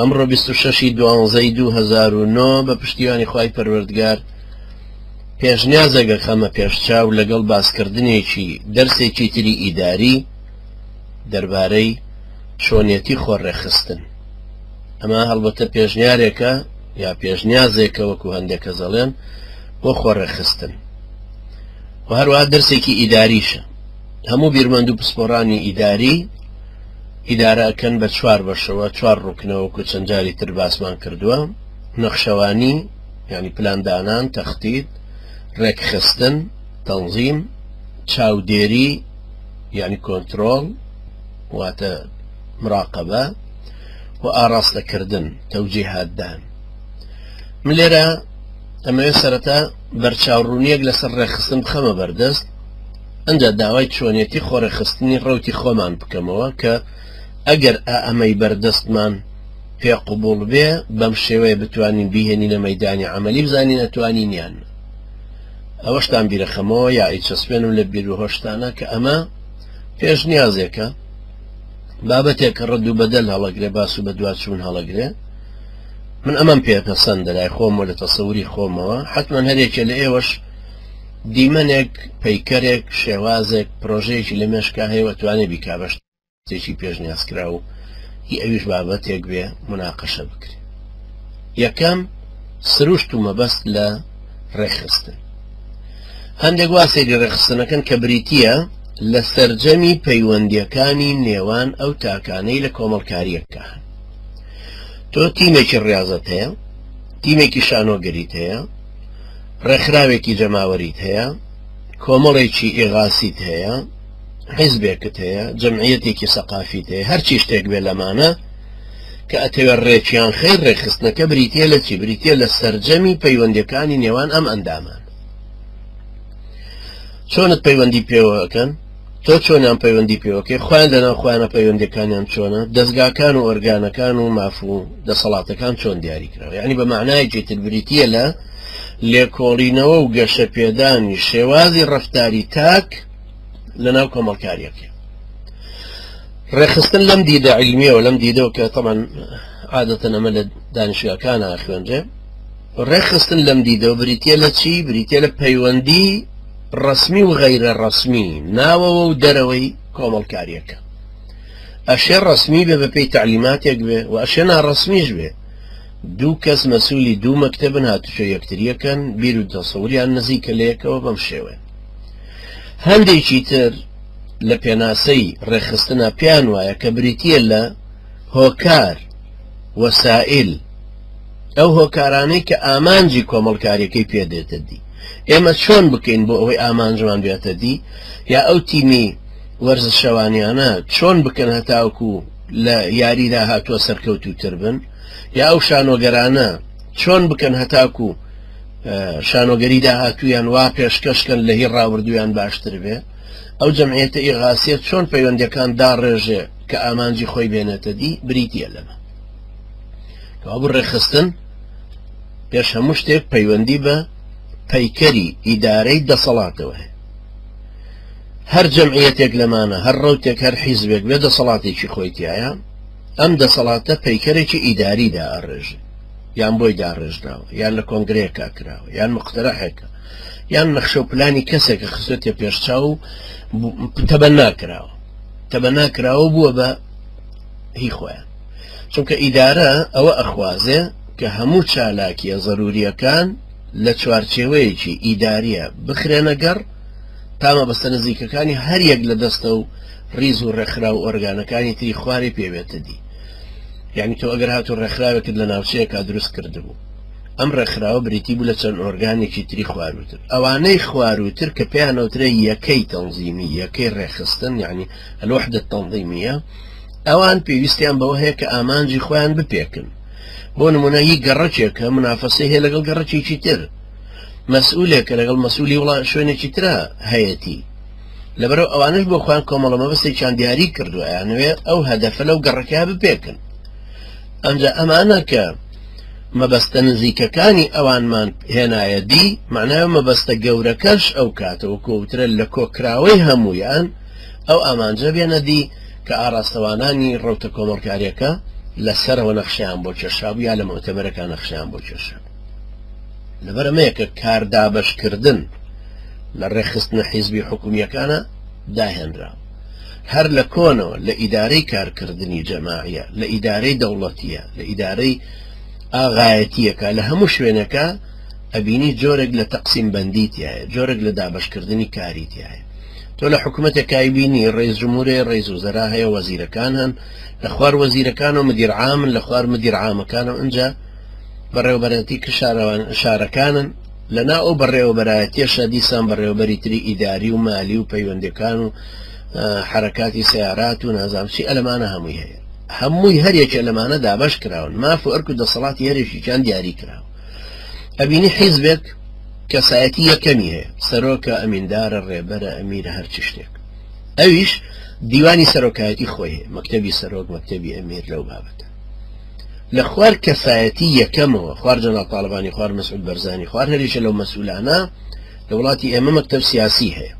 ئەمڕۆ بیست و شەش ی دوانزە ی دوو هەزار و نۆ بە پشتیوانی خوای پەروەردگار پێشنیازێک ئەخەمە پێش چاو لەگەڵ باسکردنێکی دەرسێکی تری ئیداری دەربارەی چۆنیەتی خۆڕێکخستن ئەمە هەڵبەتە پێشنیارێکە یا پێشنیازێکە وەکو هەندێک کەس دەڵێن بۆ خۆڕێکخستن و هەروە دەرسێکی ئیداریشە هەموو بیرمەند و پسپۆرانی ئیداری ئیدارە ئەکەن بە چوار بەشەوە چوار ڕوکنە وەکو چەند جاری تر باسمان کردووە نەخشەوانی یانی پلان دانان تەختید ڕێکخستن تەنظیم چاودێری یعنی کۆنتترۆل واتە مراقبە و ئاراستەکردن تەوجیهاتدان من لێرە ئەمەوێ سەرەتا بەرچاوڕوونیەک لەسەر ڕێکخستن بخەمە بەردەست ئەنجا داوای چۆنیەتی خۆڕێکخستنی ڕەوتی خۆمان بکەمەوە کە ئەگەر ئائەمەی بەردەستمان پێ قبوڵ بێ بەم شێوەیە بتوانین بیهێنینە مەیدانی عەمەلی بزانین ئەتوانین یان ئەوەشتان بیرەخەمەوە یا ئیچەسپێنم لە بیروهۆشتانە کە ئەمە پێشنیازێکە بابەتێک کە ڕەد و بەدەل هەڵەگرێ باس و بەدواچوون هەڵەگرێ من ئەمەم پێ پەسەندە لای خۆمەوە لە تەسەوری خۆمەوە حتمما هەرێکە لە ئێوەش دیمەنێک، پەیکەرێک، شێوازێک، پرۆژەیەکی لە مێشکا هەیە و ئەتوانێ بیکا بە شتێکی پێشنیازکراو و هی ئەویش بابەتێک بێ موناقەشە بکرێ. یەکەم، سروشت و مەبەست لە ڕێکخستن. هەندێک وا سەیری ڕێکخستنەکەن کە بریتییە لە سەرجەمی پەیوەندییەکانی نێوان ئەو تاکانەی لە کۆمەڵکارییەکە هەن. تۆ تیمێکی ڕیازت هەیە، تیمێکی شانۆگەریت هەیە، ڕێکخراوێکی جەماوەریت هەیە کۆمەڵێکی ئێغاسیت هەیە حیزبێکت هەیە جەمعەتێکی سەقافیت هەیە هەرچی شتێک بێ لەمانە کە ئەتەوێت ڕێکیان خێر ڕێکخستنەکە بریتە لە چی بریتە لە سرجەمی پەیوەندەکانی نێوان ئەم ئەندامان چۆنت پەیوەندی پێوەکەن تۆ چۆنیان پەیوەندی پێوەکەی خۆیان لەناو خۆیانە پەیوەندەکانیان چۆنە دەستگاکان و ئۆرگانەکان و ماف و دەسەڵاتەکان چۆن دیاری کراوە یعنی بە معنایەکی تر بریتە لە لێکۆڵینەوە و گەشە پێدانی شێوازی ڕفتاری تاک لەناو کۆمەڵکاریەکە ڕێخستن لەم دیدە علمیەوە لەم دیدەوە کە تەمان عادەتەن ئەمە لە دانیشگاکانە خوێنرێ ڕێکخستن لەم دیدەوە بریتییە لە چی؟ بریتییە لە پەیوەندی ڕەسمی و غەیرە ڕەسمی ناوەوە و دەرەوەی کۆمەڵکاریەکە ئەشێ ڕەسمی بێ بە پێی تعلیماتێک بێ و ئەشێ ناڕەسمیش بێ دوو کەس مەسوولی دوو مەکتتەبن هاتوچۆ یەکتریەکەن بیر و دەسەوریان نزیکە لەیەکەوە بەم شێوێ هەندێکی تر لە پێناسەی ڕێخستنا پێیان وایە کە بریتە لە هۆکار وەسائل ئەو هۆکارانەی کە ئامانجی کۆمەڵکاریەکەی پێدێتە دی ئێمە چۆن بکەین بۆ ئەوەی ئامانجمان بێتە دی یا ئەو تیمی وەرزشەوانیانە چۆن بکەن هەتاوکو و لە یاریدا هاتووە سەرکەوت و تر بن یا ئەو شانۆگەرانە چۆن بکەن هەتاکو و شانۆگەری داهاتویان وا پێشکەشکەن لە هی ڕاوردویان باشتر بێ ئەو جەمعێتە ئیغاسیە چۆن پەیوەندەکان داڕێژێ کە ئامانجی خۆی بێنێتە دی بریتە لەمە کەوابوو ڕێخستن پێش هەموو شتێک پەیوەندی بە پەیکەری ئیدارەی دەسەڵاتەوە هەیە هەر جەمعیەتێک لەمانە هەر ڕوتێک هەر حیزبێک بێ دەسەڵاتێکی خۆیتیایە ئەم دەسەڵاتە پەیکەرێکی ئیداری دا ئەڕێژ یان بۆی داڕێژراوە یان لە کۆنگرەیەکە کراوە یان مخترەحێکە یان نەخشە و پلانی کەسێکە خستێ پێشچاو و تەبە ناکراوە تەبە ناکراوە بووە بە هی خۆیان چونکە ئیدارە ئەوە ئەخوازێ کە هەموو چالاکیە زەروریەکان لە چوارچێوەیەکی ئیداریە بخرێنە گەڕ تا مەبەستە نزیکەکانی هەریەک لە دەستە و ریز و رێکخرا و ئۆرگانەکانی تری خوارێ پێوێتە دی یعنی تۆ ئەگەر هاتو رێکخراوێکت لە ناوچەیەکا دروست کردبوو ئەم رێکخراوە بریتی بوو لە چەند ئۆرگانێکی تری خواروتر ئەوانەی خواروتر کە پێیانەوترێ یەکەی تەنزیمی یەکەی رێخستن یعنی الوحدە التنظیمیە ئەوان پێویستیان بەوە هەیە کە ئامانجی خۆیان بپێکن بۆ نمونە هی گەڕەکێکە منافەسەی هەیە لەگەڵ گەڕەکێکی تر مەسئولێکە لەگەڵ مەسولی وڵا شوێنێکی تررا هەیەتی لەبەرو ئەوانش بۆ خۆیان کۆمەڵە مەبەستێکیان دیاری کردووە یانوێ ئەو هەدەفە لەو گەڕەکە بپێکن ئەمجا ئەمانە کە مەبەستە نزیکەکانی ئەوانمان هێنایە دی معنای مەبەستە گەورەکەش ئەو کاتەوە کۆوترە لە کۆکراوەی هەمویان ئەو ئامانجە بێنە دی کە ئاڕاستەوانانی ڕەوتە کۆمەڵکاریەکە لە سەرەوە نەخشەیان بۆ کێشابوو یا لە مۆتەبەرەکان نەخشەیان بۆ کێشە لەبەر ئەمەیە کە کاردابشکردن لە ڕێخستنە حیزبی حکومیەکانە داهێنرا هەر لە کۆنەوە لە ئیدارەی کارکردنی جەماعە لە ئیدارەی دەوڵەتیە لە ئیدارەی ئاغایەتیەکە لە هەموو شوێنەکە ئەبینی جۆرێک لە تەقسیم بەندی تایە جۆرێک لە دابشکردنی کاری تایە تۆ لە حکومەتێک کای بینی ڕیز جمورێ ڕیز و زەرا هەیە وەزیرەکان هەن لە خوار وەزیرەکان و مدیرعامن لە خوار مدیرعامەکان و ئەجا بەڕێوبەرەتی کە شارەوان شارەکانن لەنا ئەو بەڕێوەبەرایەتیشە دیسان بەڕێوەبەری تری ئیداری و مالی و پەیوەندەکان و حرکاتی سیارات و نازامچی ئەلمانە هەمووی هەیە هەمووی هەرێکە لەمانە دابش کراون ماف و ئەرک و دەسەڵاتی هەرێکیان دیاری کراوە ئەبینی حیزبێک کەسایەتی یەکەمی هەیە سەرۆکە ئەمیندارە ڕێبەرە ئەمیرە هەرچی شتێک ئەویش دیوانی سەرۆکایەتی خۆی هەیە مەکتتەبی سەرۆک مەکتتەبی ئەمیر لەو بابەتە لە خوار کەسایەتی یەکەمەوە خوار جەنا تاالبانی خوار مەسعود بەرزانی خوار هەریشە لەو مەسولانە لە وڵاتی ئێمە مەکتب سیاسی هەیە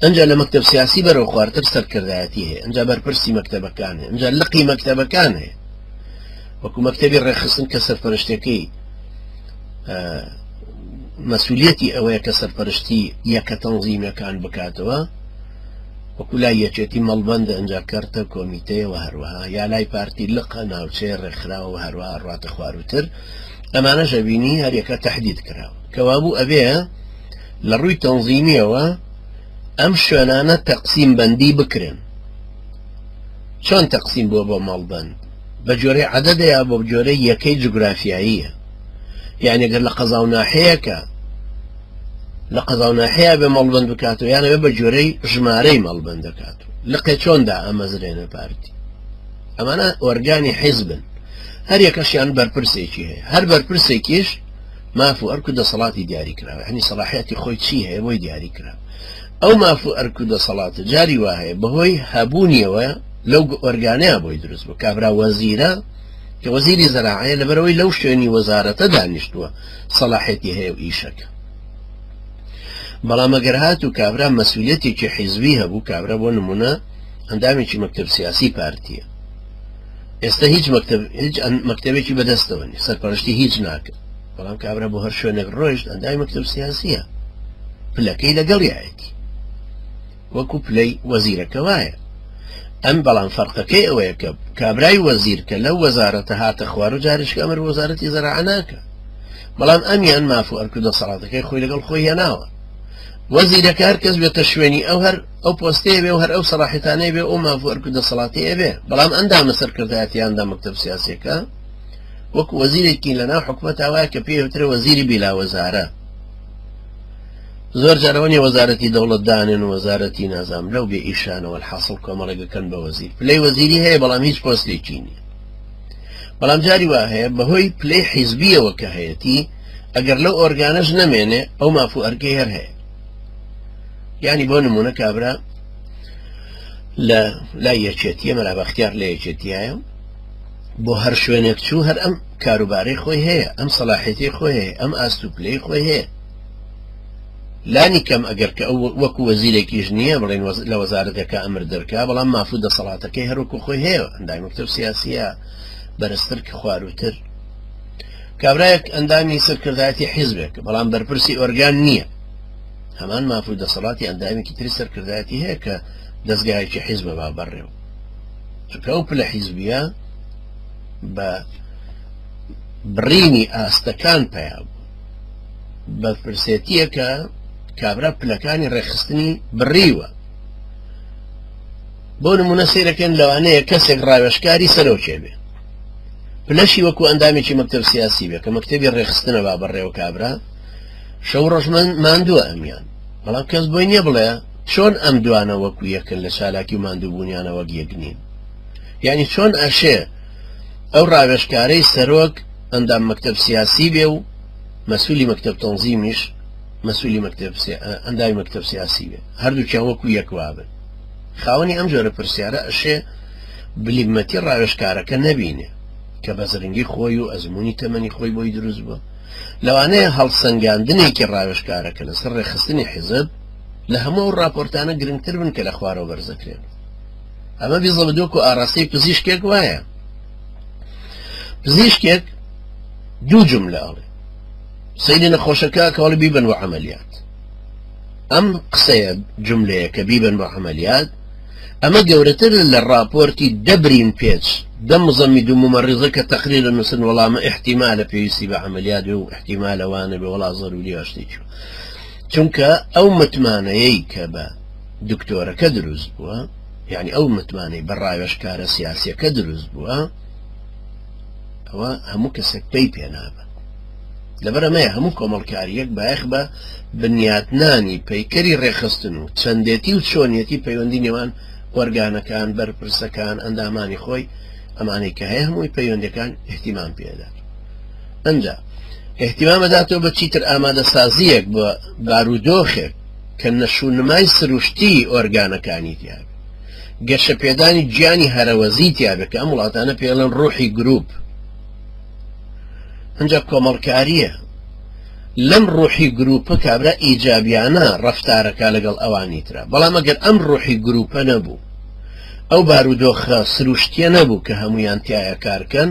ئەجا لە مەکتب سیاسی بەرەو خوارتر سەرکردایەتی هەیە ئەجا بەرپرسی مەکتتەبەکان هەیە ئەجا لقی مەکتتەبەکان هەیە وەکو مەکتەبی ڕێخستن کە سەرپەرشتەکەی مەسوولەتی ئەوەیە کە سەرپەرشتی یەکە تەنزیمەکان بکاتەوە وەکو لای یەکێتی مەڵبەندە ئەجا کەرتە کۆمیتەیەوە هەروەها یا لای پارتی لقە ناوچەیە ڕێکخراوە هەروەها ڕاتە خواروتر ئەمانە ژەبینی هەریەکە تهدید کراوە کەوابوو ئەبێ لە ڕووی تەنزیمیەوە ئەم شوێنانە تەقسیم بەندی بکرێن چۆن تەقسیم بووە بۆ ماڵبند بە گوێرەی عەدەدە یا بە گوێرەی یەکەی جوگرافیاییە؟ یانی گەر لە قەزا و ناحیەیەکە لە قەزا و ناحیە بێ مەڵبەند بکاتەوە یانەوێ بە گوێرەی ژمارەی مەڵبەند دەکات و لقێ چۆن دا ئەمەزرێنە پارتی ئەمانە ئۆرگانی حیزبن هەر یەکەشیان بەرپرسێکی هەیە هەر بەرپرسێکیش ماف و ئەرک و دەسەڵاتی دیاری کراوە هەنی سەڵاحەتی خۆی چی هەیە بۆی دیاری کرا ئەو ماف و ئەرک و دەسەڵاتە جاری وا هەیە بەهۆی هەبوونیەوە لەو ئۆرگانەیە بۆی دروست بوو کابرا وەزیرە کە وەزیری زەراعەیە لەبەرەوەی لەو شوێنی وەزارەتە دانیشتووە سەلاحێتی هەیە و ئیشەکە بەڵام ئەگەر هات و کابرا مەسوولەتێکی حیزبی هەبوو کابرا بۆ نمونە ئەندامێکی مەکتب سیاسی پارتیە ئێستا هیچ مەکتب هیچ مەکتەبێکی بەدەستەوە سەرپەرشتی هیچ ناکە بەڵام کابرا بۆ هەر شوێنێک ڕۆیشت ئەندامی مەکتەب سیاسیە پلەکەی لەگەڵیایەتی وەکو پلەی وەزیرەکە وایە ئەم بەڵام فەرقەکەی ئەوەیە کە کابرای وەزیر کە لەو وەزارەتە هاتە خوار و جارشک ئەمر وەزارەتی زەرعاناکە بەڵام ئەمیان ماف و ئەرکو دەسەڵاتەکەی خۆی لەگەڵ خۆی هێناوە وەزیرەکە هەر کەس بێتە شوێنی ئەو هەر ئەو پۆستێ بێ و هەر ئەو سەراحتانەی بێ ئەو ماف و ئەرکو دەسەڵاتی ئەبێ بەڵام ئەندامە سەرکردایەتیاندا مەکتب سیاسەکە وەکو وەزیرێکی لەناو حکومەت وایە کە پێوترە وەزیری بیلا وەزارە زۆر جارەوەنی وەزارەتی دەوڵەت دانێن و وەزارەتی نازام لەو بێ ئیشانەوە حاصل کۆمەڵێکەکەن بە وەزیر پلەی وەزیری هەیە بەڵام هیچ پۆستێکی نیە بەڵام جاری وا هەیە بەهۆی پلەی حیزبیەوە کە هەیەتی ئەگەر لەو ئۆرگانەش نەمێنێ ئەو مافو ئەرکەی هەر هەیە ینی بۆ نمونە کابرا لە لای یەکێتیە مەرابختیار لە یەکێتیایە بۆ هەر شوێنێک چوو هەر ئەم کاروبارەی خۆی هەیە ئەم سەلاحێتی خۆی هەیە ئەم ئاستوپلەی خۆی هەیە لانی کەم ئەگەر کە ئەو وەکو وەزیرێکیش نییە بڵێن لە وەزارەتەکە ئەمر دەرکا بەڵام مافو دەسەڵاتەکەی هەروکو خۆی هەیە ئەندای مکتب سیاسیە بەرزتر کە خواروتر کابراەک ئەندامی سەرکردایەتی حیزبێک بەڵام بەرپرسی ئۆرگان نییە هەمان مافو دەسەڵاتی ئەندامیکی تری سەرکردایەتی هەیە کە دەستگایکی حیزبە با بەڕێو چونکە ئەو پلە حیزبیە بە بڕینی ئاستەکان پیا بوو بە فرسێتیەکە کابرا پلەکانی ڕێخستنی بڕیوە بۆ نمونە سیرەکەن لەوانەیە کەسێک ڕاوێشکاری سەرۆکێ بێ پلەشی وەکو ئەندامێکی مەکتب سیاسی بێ کە مەکتتەبی ڕێخستنە با بەڕێوە کابرا شەو ڕۆژمن ماندووە ئەمیان بەڵام کەس بۆی نییە بڵێ چۆن ئەم دوانە وەکو یەکن لە چالاکی و ماندووبوونیانە وەک یەک نین یانی چۆن ئەشێ ئەو ڕاوێژکارەی سەرۆک ئەندام مەکتەب سیاسی بێ و مەسولی مەکتەب تەنزیمیش مەسولی مەکتەب ئەنداوی مەکتەب سیاسی بێ هەردووکیان وەکو یەک وابن خاوەنی ئەم جۆرە پرسیارە ئەشێ بلیمەتی ڕاوێشکارەکە نەبینێ کە بە زرنگی خۆی و ئەزمموی تەمەنی خۆی بۆی دروست بووە لەوانەیە هەڵسەنگاندنێکی ڕاوێشکارەکە لەسەر ڕێخستنی حیزب لە هەموو ئەو ڕاپۆرتانە گرنگتر بن کە لە خوارەوە بەرزەکرێن ئەمە بیزە بە دۆک و ئاراستەی پزیشکێک وایە پزیشکێک دوو جملە ئەڵێ سەیری نەخۆشەکە کەڵ بیبن و عملیات ئەم قسەیە جملەیە کە بیبن بە عملیات ئەمە گەورەتر لە راپۆرتی دەبرین پێچ دەم زەمی دوو ممەڕیزە کە تەقریر لە نووسن وەڵامە احتیمالە پێویستی بە عملیات و احتیمالەوانە بە وڵا زەروری هەشتی چوو چونکە ئەو متمانەیەی کە بە دکتۆرەکە دروست بووە یعنی ئەو متمانەی بە ڕاوێشکارە سیاسیەکە دروست بووە ئەوە هەموو کەسێک پێی پێنابە لەبەرەمەیە هەموو کۆمەڵکاریەک بایخ بە بنیاتنانی پەیکەری ڕێخستن و چەندێتی و چۆنیەتی پەیوەندی نێوان وەرگانەکان بەرپرسەکان ئەندامانی خۆی ئەمانەی کە هەیە هەمووی پەیوەندەکان احتیمان پێدات ئەنجا ئیهتیمام ئەداتەوە بە چیتر ئامادەسازییەک بۆ بارودۆخێک کە نەشونمای سروشتیی ئۆرگانەکانی تیابێت گەشەپێدانی گیانی هەرەوەزیی تیابێت کە ئەم وڵاتانە پێڵەن ڕوحی گروپ ئەنجا کۆمەڵکارییە لەم ڕوحی گروپە کابرا ئیجابیانە ڕفتارەکە لەگەڵ ئەوانی تررا بەڵام ئەگەر ئەم ڕوحی گروپە نەبوو ئەو بارودۆخە سروشتیە نەبوو کە هەمویان تایە کارکەن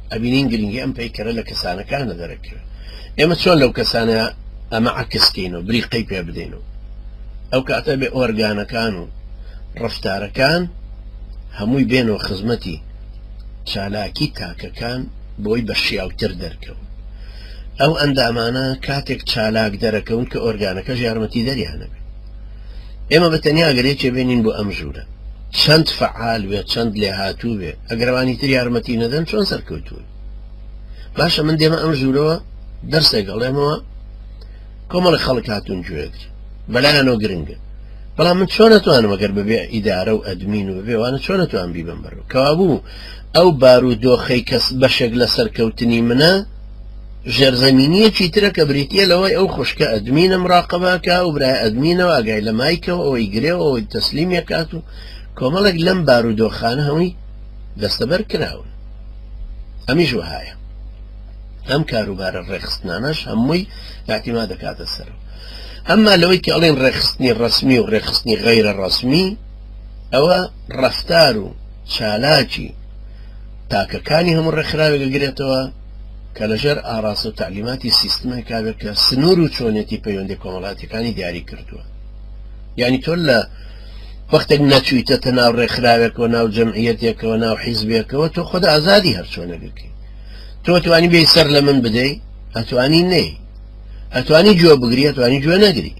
ئەبینین گرنگی ئەم پەیکەرە لە کەسانەکانە دەرەکەوێت ئێمە چۆن لەو کەسانە ئەمە عکسکەین و بریقەی پێ بدەین و ئەو کاتە بێ ئۆرگانەکان و ڕفتارەکان هەمووی بێن و خزمەتی چالاکی تاکەکان بۆی بە شیاوتر دەرکەون ئەو ئەندامانە کاتێک چالاک دەرەکەون کە ئۆرگانەکە ژارمەتی دەریانەبێت ئێمە بە تەنیا گەر یەکێ بێنین بۆ ئەم ژوورە چەند فعال وێ چەند لێ هاتوو بێ ئەگەروانی تر یارمەتی نەدەن چۆن سەرکەوتون باشە من دێمە ئەم ژوورەوە دەرسێک گەڵێمەوە کۆمەڵی خەڵک هاتون گوێگر بەلایەنەوە گرنگە بەڵام من چۆن نتوانم ئەگەر ببێ ئیدارە و ئەدمین و بێوانە چۆن نتوان بیبم بەرەوە کەوابوو ئەو بار و دۆخەی کەس بەشێک لە سەرکەوتنی منە ژێرزەمینییەکی ترە کە بریتییە لەوەی ئەو خوشکە ئەدمینە مراقەبە ئەکا و برای ئەدمینەوە ئاگای لە مایکەوە ئەوەی گرێ و ئەوەی تەسلیم ئەکات و کۆمەڵێک لەم بارودۆخانە هەمووی دەستەبەر کراون ئەمیش وەهایە ئەم کاروبارە ڕێخستنانەش هەمووی ئاعتیما دەکاتە سەر ئەمما لەوەی کە ئەڵێن ڕێخستنی ڕسمی و ڕێخستنی غەیرە ڕسمی ئەوە ڕفتار و چالاکی تاکەکانی هەموو ڕێکخراوێک گرێتەوە کە لەژێر ئاڕاستە و تەعلیماتی سیستمێکا بێت کە سنوور و چۆنێتی پەیوەندی کۆمەڵاتیەکانی دیاری کردووە یعنی تۆ لە وەختێک نەچویتەتە ناو ڕێکخراوێکەوە ناو جەمعیەتێکەوە ناو حیزبێکەوە تۆ خۆدا ئازادی هەرچۆنەگەکەی تۆ توانی بێ سەر لە من بدەی ئەتوانی نەی ئەتوانی گوێ بگری ئەتوانی گوێ نەگری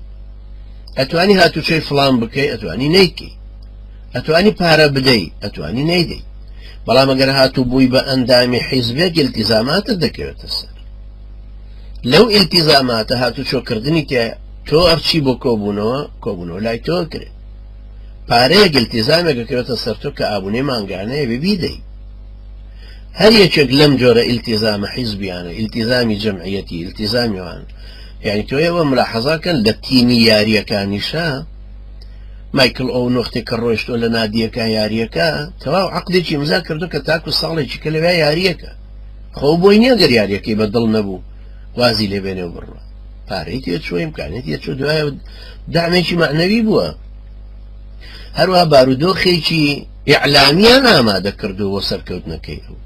ئەتوانی هاتوچۆی فلان بکەی ئەتوانی نیکی ئەتوانی پارە بدەی ئەتوانی نەیدەی بەڵام ئەگەر هاتوو بووی بە ئەندامی حیزبێک ئیلتیزاماتت دەکەوێتە سەر لەو ئیلتیزاماتە هاتوو چۆکردنی تێ تۆ ئەرچی بۆ کۆبوونەوە کۆبوونەوە لای تۆ کرێ پارەیە گلتیزامێک دەکەوێتە سەر تۆ کە ئابوونێ مانگانەیە ببیدەی هەر یەکێک لەم جۆرە ئیلتیزامە حیزبیانە ئیلتیزامی جەمعەتی ئیلتیزامیوان یعنی تۆ ئێوە ملاحەزاکەن لە تیمی یاریەکانیشە مایکڵ ئەو نۆختێک کە ڕۆشتۆ لە نادیەکە یاریەکە تەواو عقدێکی ئمزا کردو کە تاکو ساڵێکی کە لەوێ یاریەکە خۆ بۆی نیە گەر یاریەکەی بە دڵ نەبوو وازی لێ بێنێ و بڕە پارەی تێ چوە امکانێت یە چۆ دوایە دامێکی معنەوی بووە هەروە بارودۆخێکی ئیعلامیان ئامادە کردو بۆ سەرکەوتنەکەی ئەو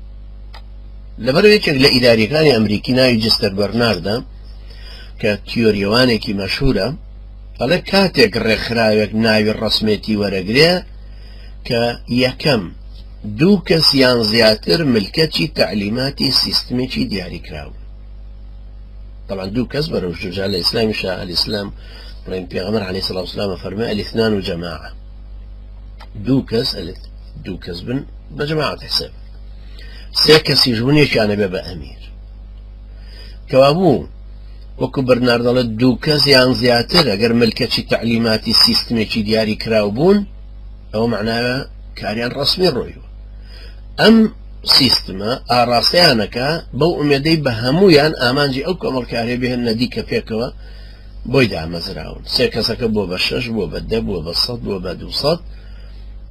لەبەر یەکێک لە ئیداریەکانی ئەمریکی ناوی جستەر بەرناردە کە تیۆریەوانێکی مەشهورە ئەڵێ کاتێک ڕێکخراوێک ناوی ڕەسمێتی وەرەگرێ کە، یەکەم، دوو کەس یان زیاتر ملکەچی تەعلیماتی سیستمێکی دیاریکراو، تەبعەن دوو کەس بەرەو ژوور، جا لە ئیسلامیشا ئەلئیسلام بڵێن پێغەمبەر عەلەیهی سڵاو سلام فەرموێ ئەلئیثنان و جەماعە دوو کەس ئەلت دوو کەس بن بە جەماعەت حساب سێ کەسیش بوون یەکیانە بێ بە ئەمیر کەوابوو وەکو بەرنار دەڵێت دوو کەس یان زیاتر ئەگەر ملکەچی تەعلیماتی سیستمێکی دیاری کراو بوون ئەوە معناوە کاریان ڕسمی ڕۆیوە ئەم سیستمە ئاراستەیانەکە بەو ئومێدەی بە هەمویان ئامانجی ئەو کۆمەڵکارێ بهێن نەدیکە پێکەوە بۆی دامەزراون سێ کەسەکە بۆ بە شەش بۆ بە دە بووە بە سەد بووە بە دوو سەد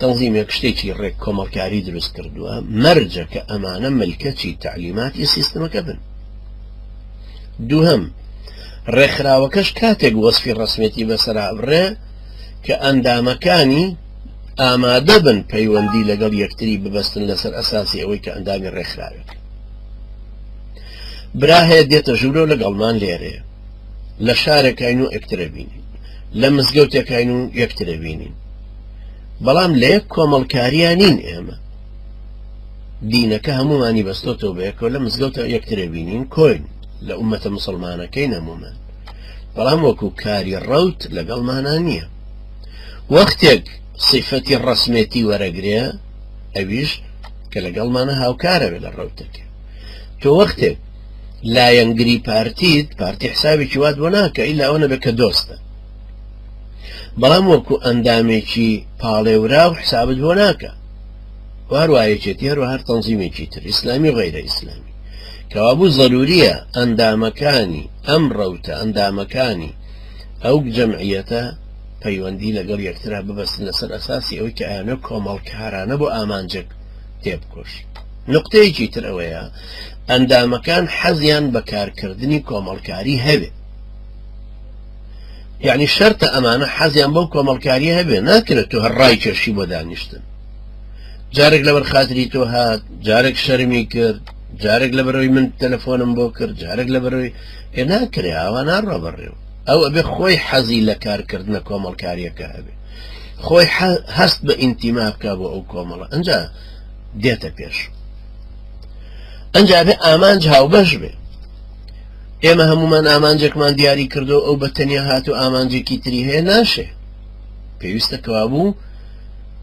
تەنظیمێک شتێکی ڕێک کۆمەڵکاری دروست کردووە مەرجە کە ئەمانە ملکەچی تعلیماتی سیستمەکە بن دووهەم، ڕێکخراوەکەش کاتێک وەسفی ڕەسمیەتی بەسەرا بڕێ کە ئەندامەکانی ئامادە بن پەیوەندی لەگەڵ یەکتری ببەستن لەسەر ئەساسی ئەوەی کە ئەندامی ڕێکخراوێت برا هەیە دێتە ژوورۆ لەگەڵمان لێرێ لە شارەکەین و ئەکترەبینین لە مزگەوتەکەین و یەکترەبینین بەڵام لە یەک کۆمەڵکاریان نین ئێمە دینەکە هەموومانی بەستۆتەوە بەیەکەوە لە مزگەوتە یەکترێ بینین کۆین لە ئومەتە مسلمانەکەی نەموومان بەڵام وەکو کاری ڕەوت لەگەڵ مانا نییە وەختێک صفەتی ڕسمێتی وەرەگرێ ئەویش کە لەگەڵ مانە هاوکارەوێ لە ڕەوتەکە تۆ وەختێک لایەنگری پارتیت پارتی حسابی چوات بۆ ناکە ئیلا ئەوە نەبێت کە دۆستە بەڵام وەکو ئەندامێکی پاڵێورا و حسابت بۆ ناکە و هەروا یەکێتی هەروا هەر تەنزیمێکی تر ئیسلامی و غەیرە ئیسلامی کەوابوو زەروریە ئەندامەکانی ئەم ڕەوتە ئەندامەکانی ئەو جەمعیەتە پەیوەندی لەگەڵ یەکترا ببەستن لەسەر ئەساسی ئەوەی کە ئەیانە کۆمەڵکارانە بۆ ئامانجێک تێبکۆش نقطەیەکی تر ئەوەیە ئەندامەکان حەزیان بە کارکردنی کۆمەڵکاری هەبێ یعنی شەرتە ئەمانە حەزیان بەو کۆمەڵکاری هەبێ ناکرێت تو هەر ڕای کێشی بۆ دانیشتن جارێک لەبەر خاتری تۆ هات جارێک شەرمی کرد جارێک لە بەرەوەی من تەلەفۆنم بۆ کرد جارێک لە بەرەوەی پێ ناکرێ ئاوا ناڕە بەڕێوە ئەو ئەبێ خۆی حەزی لە کارکردنە کۆمەڵکاریەکە هەبێ خۆی هەست بە ئینتیما بکە بۆ ئەو کۆمەڵە ئەجا دێتە پێش ئەجا بێ ئامانج هاوبەش بێ ئێمە هەمومان ئامانجێکمان دیاری کردو ئەو بە تەنیا هات و ئامانجێکی تری هەیە ناشێ پێویستە کەوابوو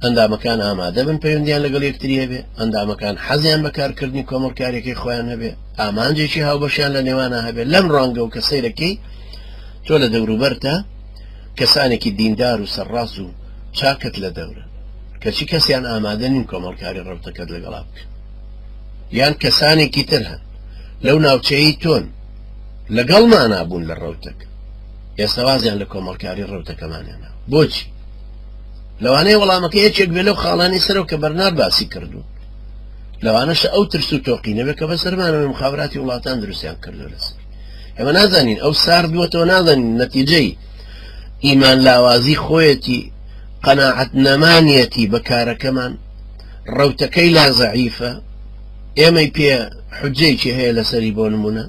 ئەندامەکان ئامادەبن پەیوەندیان لەگەڵ یەکتری هەبێ، ئەندامەکان حەزیان بە کارکردنی کۆمەڵکاریەکەی خۆیان هەبێ، ئامانجێکی هاوبەشیان لە نێوانا هەبێ، لەم ڕوانگەوە کە سەیرەکەی تۆ لە دەوروبەرتا کەسانێکی دیندار و سەرڕاست و چاکت لە دەورن، کەچی کەسیان ئامادە نین کۆمەڵکاری ڕەوتەکەت لەگەڵا بکەن، یان کەسانێکی تر هەن لەو ناوچەیەی تۆن لەگەڵمانا بوون لە ڕەوتەکە، ئێستا وازیان لە کۆمەڵکاری ڕەوتەکەمان هێناوە، بۆچی؟ لەوانەیە وەڵامەکە یەکێک بێ لەو خاڵانەی سەرەوە کە بەرنار باسی کردوون لەوانەشە ئەو ترس و تۆقینەوێت کە بەسەرمانەوەی مخابراتی وڵاتان دروستیان کردو لەسەر ئێمە نازانین ئەو سار دووەتەوە نازانین نەتیجەی ئیمان لاوازی خۆیەتی قەنەعەت نەمانەتی بە کارەکەمان ڕوتەکەی لا زەعیفە ئێمەی پێ حجەیەکی هەیە لەسەری بۆ نمونە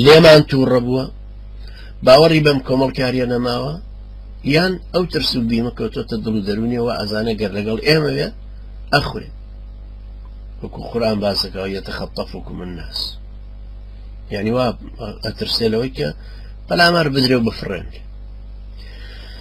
لێمان تووڕە بووە باوەڕی بەم کۆمەڵکاریە نەماوە یان ئەو ترس و بیمە کەوتۆتە دڵ و دەرونی وە ئەزانە گەر لەگەڵ ئێمە وێ ئەخورێ وەکو قورآان باسەکە یەتە خەتەف وکو من ناس یعنی وا ئەترسێ لەوەی کە پەلامار بدرێ و بفڕێن